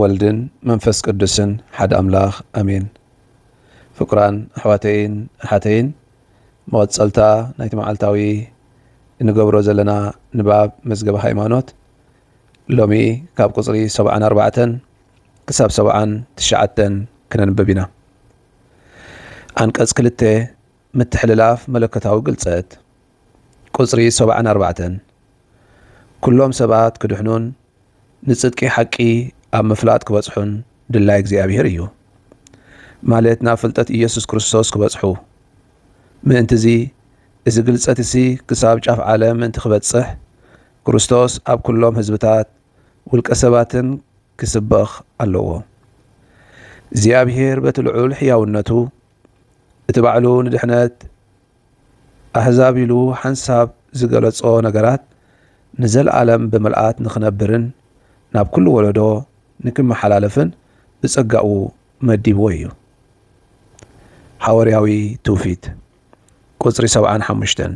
ወልድን መንፈስ ቅዱስን ሓደ ኣምላኽ ኣሜን። ፍቁራን ኣሕዋተይን ኣሓተይን መቐጸልታ ናይቲ መዓልታዊ እንገብሮ ዘለና ንባብ መዝገበ ሃይማኖት ሎሚ ካብ ቁጽሪ ሰብዓን ኣርባዕተን ክሳብ ሰብዓን ትሽዓተን ክነንብብ ኢና። ኣንቀጽ ክልተ ምትሕልላፍ መለኮታዊ ግልጸት ቁጽሪ ሰብዓን ኣርባዕተን ኩሎም ሰባት ክድሕኑን ንጽድቂ ሓቂ ኣብ ምፍላጥ ክበጽሑን ድላይ እግዚኣብሔር እዩ። ማለት ናብ ፍልጠት ኢየሱስ ክርስቶስ ክበጽሑ። ምእንትዚ እዚ ግልጸት እዚ ክሳብ ጫፍ ዓለም ምእንቲ ክበጽሕ ክርስቶስ ኣብ ኩሎም ህዝብታት ውልቀ ሰባትን ክስበኽ ኣለዎ። እግዚኣብሔር በቲ ልዑል ሕያውነቱ እቲ ባዕሉ ንድሕነት ኣህዛብ ኢሉ ሓንሳብ ዝገለጾ ነገራት ንዘልኣለም ብምልኣት ንኽነብርን ናብ ኩሉ ወለዶ ንክመሓላለፍን ብጸጋኡ መዲብዎ እዩ። ሓወርያዊ ትውፊት ቁጽሪ ሰብዓን ሓሙሽተን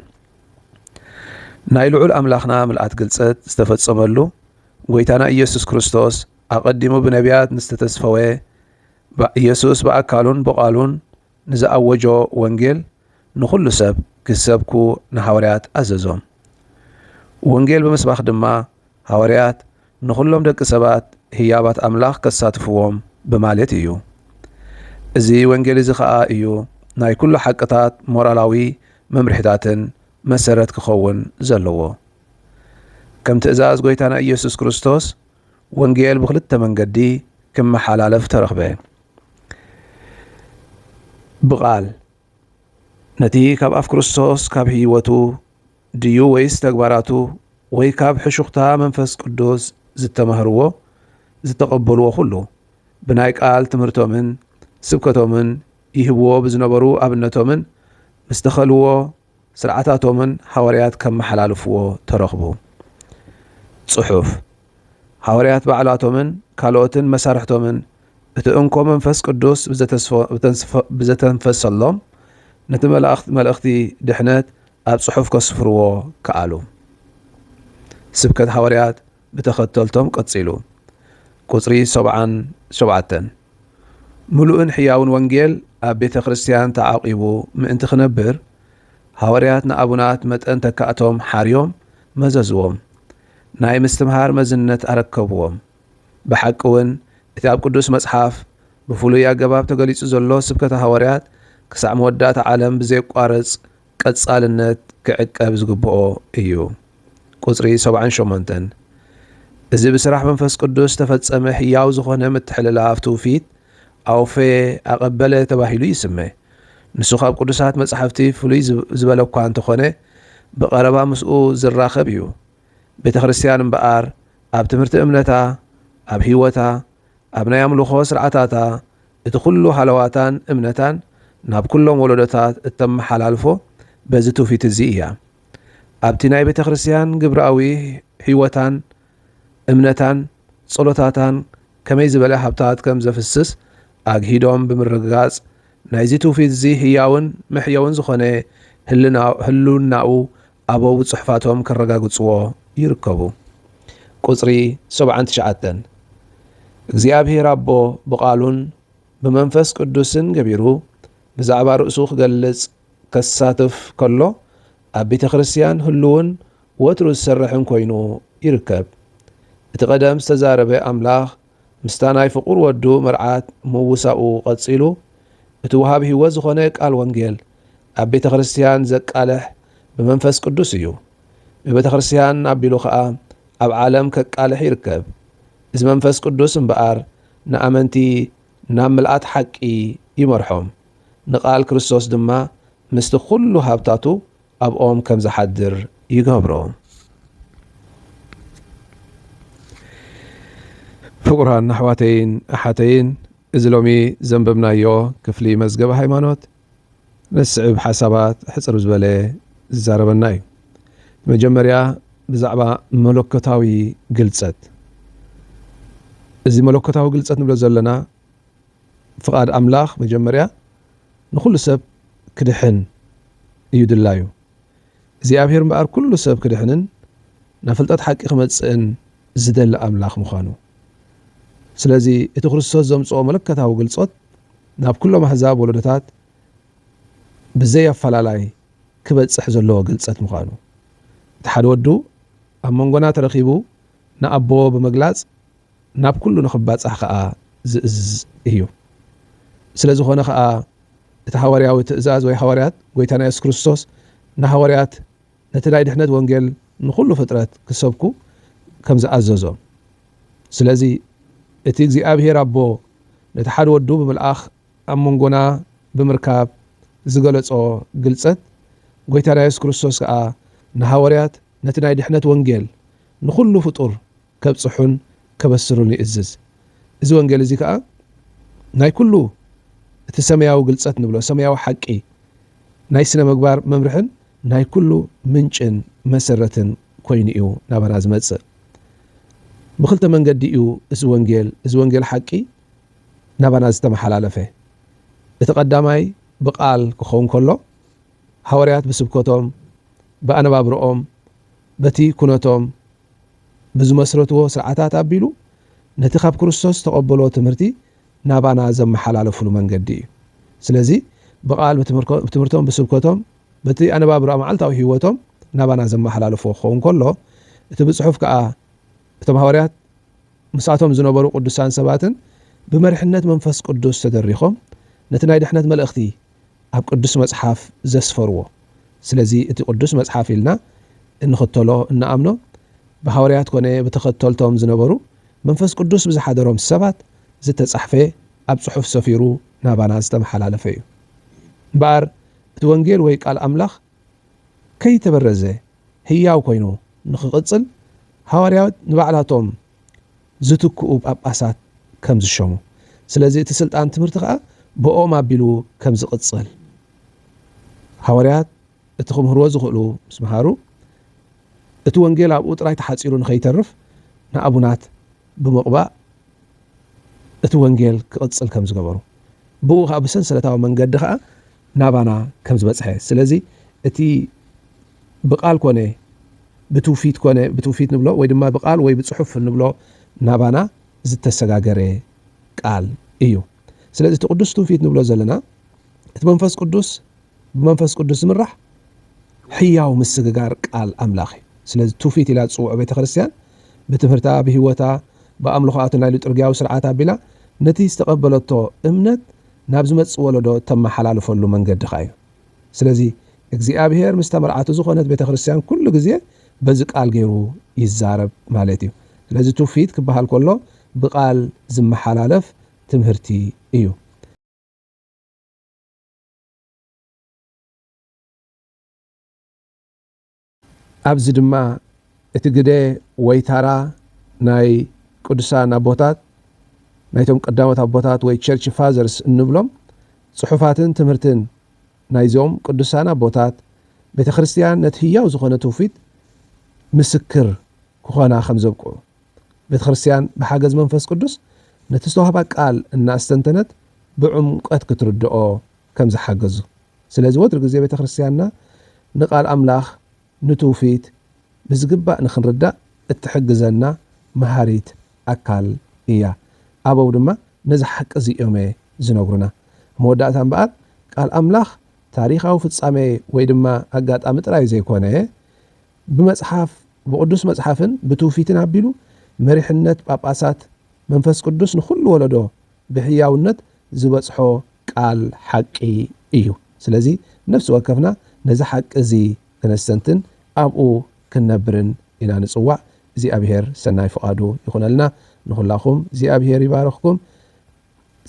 ናይ ልዑል ኣምላኽና ምልኣት ግልጸት ዝተፈጸመሉ ጎይታና ኢየሱስ ክርስቶስ ኣቐዲሙ ብነቢያት ምስተተስፈወ ኢየሱስ ብኣካሉን ብቓሉን ንዝኣወጆ ወንጌል ንዅሉ ሰብ ኪሰብኩ ንሃዋርያት ኣዘዞም። ወንጌል ብምስባኽ ድማ ሃዋርያት ንዅሎም ደቂ ሰባት ህያባት ኣምላኽ ከሳትፍዎም ብማልት እዩ። እዚ ወንጌል እዚ ኸኣ እዩ ናይ ኵሉ ሓቅታት ሞራላዊ መምርሒታትን መሰረት ኪኸውን ዘለዎ። ከም ትእዛዝ ጐይታና ኢየሱስ ክርስቶስ ወንጌል ብኽልተ መንገዲ ኪመሓላለፍ ተረኽበ። ብቓል ነቲ ካብ ኣፍ ክርስቶስ ካብ ህይወቱ ድዩ ወይስ ተግባራቱ ወይ ካብ ሕሹኽታ መንፈስ ቅዱስ ዝተማህርዎ ዝተቐበልዎ ኩሉ ብናይ ቃል ትምህርቶምን ስብከቶምን ይህብዎ ብዝነበሩ ኣብነቶምን ምስተኸልዎ ሥርዓታቶምን ሓወርያት ከመሓላልፍዎ ተረኽቡ። ጽሑፍ ሓወርያት ባዕላቶምን ካልኦትን መሳርሕቶምን እቲ እንኮ መንፈስ ቅዱስ ብዘተንፈሰሎም ነቲ መልእኽቲ ድኅነት ኣብ ጽሑፍ ከስፍርዎ ከኣሉ። ስብከት ሓወርያት ብተኸተልቶም ቀጺሉ። ቁጽሪ ሰብዓን ሸውዓተን፣ ምሉእን ሕያውን ወንጌል ኣብ ቤተ ክርስቲያን ተዓቂቡ ምእንቲ ክነብር፣ ሃዋርያት ንኣቡናት መጠን ተካእቶም ሓርዮም መዘዝዎም፣ ናይ ምስትምሃር መዝነት ኣረከብዎም። ብሓቂውን እቲ ኣብ ቅዱስ መጽሓፍ ብፍሉይ ኣገባብ ተገሊጹ ዘሎ ስብከተ ሃዋርያት ክሳዕ መወዳእታ ዓለም ብዘየቋርጽ ቀጻልነት ክዕቀብ ዝግብኦ እዩ። ቁጽሪ ሰብዓን ሸሞንተን፣ እዚ ብስራሕ መንፈስ ቅዱስ ዝተፈጸመ ሕያው ዝኾነ ምትሕልላፍ ትውፊት፣ ኣውፌ፣ ኣቐበለ፣ ተባሂሉ ይስመ። ንሱ ካብ ቅዱሳት መጻሕፍቲ ፍሉይ ዝበለኳ እንተኾነ ብቐረባ ምስኡ ዝራኸብ እዩ። ቤተ ክርስቲያን እምበኣር ኣብ ትምህርቲ እምነታ፣ ኣብ ሕይወታ፣ ኣብ ናይ ኣምልኾ ስርዓታታ፣ እቲ ኩሉ ሃለዋታን እምነታን ናብ ኩሎም ወለዶታት እተመሓላልፎ በዚ ትውፊት እዚ እያ። ኣብቲ ናይ ቤተ ክርስቲያን ግብራዊ ሕይወታን እምነታን ጸሎታታን ከመይ ዝበለ ሃብታት ከም ዘፍስስ ኣግሂዶም ብምርግጋጽ ናይዚ ትውፊት እዚ ህያውን መሕየውን ዝኾነ ህልናኡ ኣበው ጽሑፋቶም ከረጋግጽዎ ይርከቡ። ቁጽሪ ሰብዓን ትሽዓተን፣ እግዚኣብሔር ኣቦ ብቃሉን ብመንፈስ ቅዱስን ገቢሩ ብዛዕባ ርእሱ ክገልጽ ከሳትፍ ከሎ ኣብ ቤተ ክርስቲያን ህሉውን ወትሩ ዝሰርሕን ኮይኑ ይርከብ። እቲ ቀደም ዝተዛረበ ኣምላኽ ምስታ ናይ ፍቑር ወዱ መርዓት ምውሳኡ ቐጺሉ፣ እቲ ወሃብ ህይወት ዝኾነ ቃል ወንጌል ኣብ ቤተ ክርስቲያን ዘቃልሕ ብመንፈስ ቅዱስ እዩ። ብቤተ ክርስቲያን ኣቢሉ ኸኣ ኣብ ዓለም ከቃልሕ ይርከብ። እዚ መንፈስ ቅዱስ እምበኣር ንኣመንቲ ናብ ምልኣት ሓቂ ይመርሖም፣ ንቃል ክርስቶስ ድማ ምስቲ ኹሉ ሃብታቱ ኣብኦም ከም ዝሓድር ይገብሮ። ፍቑራን ኣሕዋተይን ኣሓተይን፣ እዚ ሎሚ ዘንበብናዮ ክፍሊ መዝገበ ሃይማኖት ንዝስዕብ ሓሳባት ኣሕጽር ዝበለ ዝዛረበና እዩ። ብመጀመርያ ብዛዕባ መለኮታዊ ግልጸት እዚ መለኮታዊ ግልጸት ንብሎ ዘለና ፍቓድ ኣምላኽ መጀመርያ ንኹሉ ሰብ ክድሕን እዩ ድላዩ። እግዚኣብሄር እምበኣር ኩሉ ሰብ ክድሕንን ናብ ፍልጠት ሓቂ ክመጽእን ዝደሊ ኣምላኽ ምዃኑ። ስለዚ እቲ ክርስቶስ ዘምጽኦ መለኮታዊ ግልጾት ናብ ኩሎም ኣህዛብ ወለዶታት ብዘይ ኣፈላላይ ክበጽሕ ዘለዎ ግልጸት ምዃኑ። እቲ ሓደ ወዱ ኣብ መንጎና ተረኺቡ ንኣቦ ብምግላጽ ናብ ኩሉ ንኽባጻሕ ከኣ ዝእዝዝ እዩ። ስለ ዝኾነ ከኣ እቲ ሃዋርያዊ ትእዛዝ ወይ ሃዋርያት ጎይታና የሱስ ክርስቶስ ንሃዋርያት ነቲ ናይ ድሕነት ወንጌል ንኹሉ ፍጥረት ክሰብኩ ከም ዝኣዘዞም ስለዚ እቲ እግዚኣብሄር ኣቦ ነቲ ሓደ ወዱ ብምልኣኽ ኣብ መንጎና ብምርካብ ዝገለጾ ግልጸት ጎይታና የሱስ ክርስቶስ ከኣ ንሃዋርያት ነቲ ናይ ድሕነት ወንጌል ንኹሉ ፍጡር ከብጽሑን ከበስሩን ይእዝዝ። እዚ ወንጌል እዚ ከኣ ናይ ኩሉ እቲ ሰማያዊ ግልጸት ንብሎ ሰማያዊ ሓቂ ናይ ስነ ምግባር መምርሕን ናይ ኩሉ ምንጭን መሰረትን ኮይኑ እዩ ናባና ዝመጽእ። ብክልተ መንገዲ እዩ እዚ ወንጌል እዚ ወንጌል ሓቂ ናባና ዝተመሓላለፈ። እቲ ቀዳማይ ብቃል ክኸውን ከሎ ሃዋርያት ብስብከቶም ብኣነባብርኦም በቲ ኩነቶም ብዝመስረትዎ ስርዓታት ኣቢሉ ነቲ ካብ ክርስቶስ ዝተቐበልዎ ትምህርቲ ናባና ዘመሓላለፍሉ መንገዲ እዩ። ስለዚ ብቓል፣ ብትምህርቶም፣ ብስብከቶም፣ በቲ ኣነባብራ መዓልታዊ ህይወቶም ናባና ዘመሓላለፍዎ ክኸውን ከሎ፣ እቲ ብጽሑፍ ከኣ እቶም ሃዋርያት ምስኣቶም ዝነበሩ ቅዱሳን ሰባትን ብመርሕነት መንፈስ ቅዱስ ተደሪኾም ነቲ ናይ ድሕነት መልእኽቲ ኣብ ቅዱስ መጽሓፍ ዘስፈርዎ። ስለዚ እቲ ቅዱስ መጽሓፍ ኢልና እንኽተሎ እንኣምኖ ብሃወርያት ኮነ ብተኸተልቶም ዝነበሩ መንፈስ ቅዱስ ብዝሓደሮም ሰባት ዝተጻሕፈ ኣብ ጽሑፍ ሰፊሩ ናባና ዝተመሓላለፈ እዩ እምበኣር እቲ ወንጌል ወይ ቃል ኣምላኽ ከይተበረዘ ህያው ኮይኑ ንኽቕጽል ሃዋርያት ንባዕላቶም ዝትክኡ ጳጳሳት ከም ዝሸሙ፣ ስለዚ እቲ ስልጣን ትምህርቲ ኸኣ ብእኦም ኣቢሉ ከም ዝቕጽል ሃዋርያት እቲ ክምህርዎ ዝኽእሉ ምስ መሃሩ እቲ ወንጌል ኣብኡ ጥራይ ተሓጺሩ ንኸይተርፍ ንኣቡናት ብምቕባእ እቲ ወንጌል ክቕጽል ከም ዝገበሩ ብእኡ ኸኣ ብሰንሰለታዊ መንገዲ ኸኣ ናባና ከም ዝበጽሐ ስለዚ እቲ ብቃል ኮነ ብትውፊት ኮነ ብትውፊት ንብሎ ወይ ድማ ብቃል ወይ ብጽሑፍ እንብሎ ናባና ዝተሰጋገረ ቃል እዩ ስለዚ እቲ ቅዱስ ትውፊት ንብሎ ዘለና እቲ መንፈስ ቅዱስ ብመንፈስ ቅዱስ ዝምራሕ ሕያው ምስግጋር ቃል ኣምላኽ እዩ ስለዚ ትውፊት ኢላ ዝጽውዖ ቤተ ክርስትያን ብትምህርታ ብህይወታ ብኣምልኾኣትን ናይ ልጥርግያዊ ስርዓት ኣቢላ ነቲ ዝተቐበለቶ እምነት ናብ ዝመጽእ ወለዶ እተመሓላልፈሉ መንገድኻ እዩ። ስለዚ እግዚኣብሄር ምስታ መርዓቱ ዝኾነት ቤተ ክርስትያን ኩሉ ግዜ በዚ ቃል ጌሩ ይዛረብ ማለት እዩ። ስለዚ ትውፊት ክበሃል ከሎ ብቃል ዝመሓላለፍ ትምህርቲ እዩ። ኣብዚ ድማ እቲ ግደ ወይ ታራ ናይ ቅዱሳን ኣቦታት፣ ናይቶም ቀዳሞት ኣቦታት ወይ ቸርች ፋዘርስ እንብሎም፣ ጽሑፋትን ትምህርትን ናይዞም ቅዱሳን ኣቦታት፣ ቤተ ክርስቲያን ነቲ ህያው ዝኾነ ትውፊት ምስክር ክኾና ከም ዘብቅዑ፣ ቤተ ክርስቲያን ብሓገዝ መንፈስ ቅዱስ ነቲ ዝተዋህባ ቃል እናኣስተንተነት ብዕምቆት ክትርድኦ ከም ዝሓገዙ፣ ስለዚ ወትሩ ግዜ ቤተክርስትያንና ንቃል ኣምላኽ ንትውፊት ብዝግባእ ንኽንርዳእ እትሕግዘና መሃሪት ኣካል እያ። ኣበው ድማ ነዚ ሓቂ እዚ እዮመ ዝነግሩና። ኣብ መወዳእታ እምበኣር ቃል ኣምላኽ ታሪኻዊ ፍጻሜ ወይ ድማ ኣጋጣሚ ጥራይ ዘይኮነ ብመጽሓፍ ብቅዱስ መጽሓፍን ብትውፊትን ኣቢሉ መሪሕነት ጳጳሳት መንፈስ ቅዱስ ንኹሉ ወለዶ ብሕያውነት ዝበጽሖ ቃል ሓቂ እዩ። ስለዚ ነፍሲ ወከፍና ነዚ ሓቂ እዚ ክነስተንትን ኣብኡ ክንነብርን ኢና ንጽዋዕ። እግዚኣብሄር ሰናይ ፍቓዱ ይኹነልና። ንኹላኹም እግዚኣብሄር ይባርኽኩም።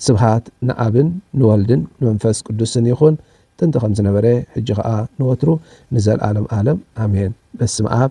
ስብሃት ንኣብን ንወልድን ንመንፈስ ቅዱስን ይኹን ጥንቲ ከም ዝነበረ ሕጂ ከኣ ንወትሩ ንዘልኣለም ኣለም ኣሜን። በስመኣብ።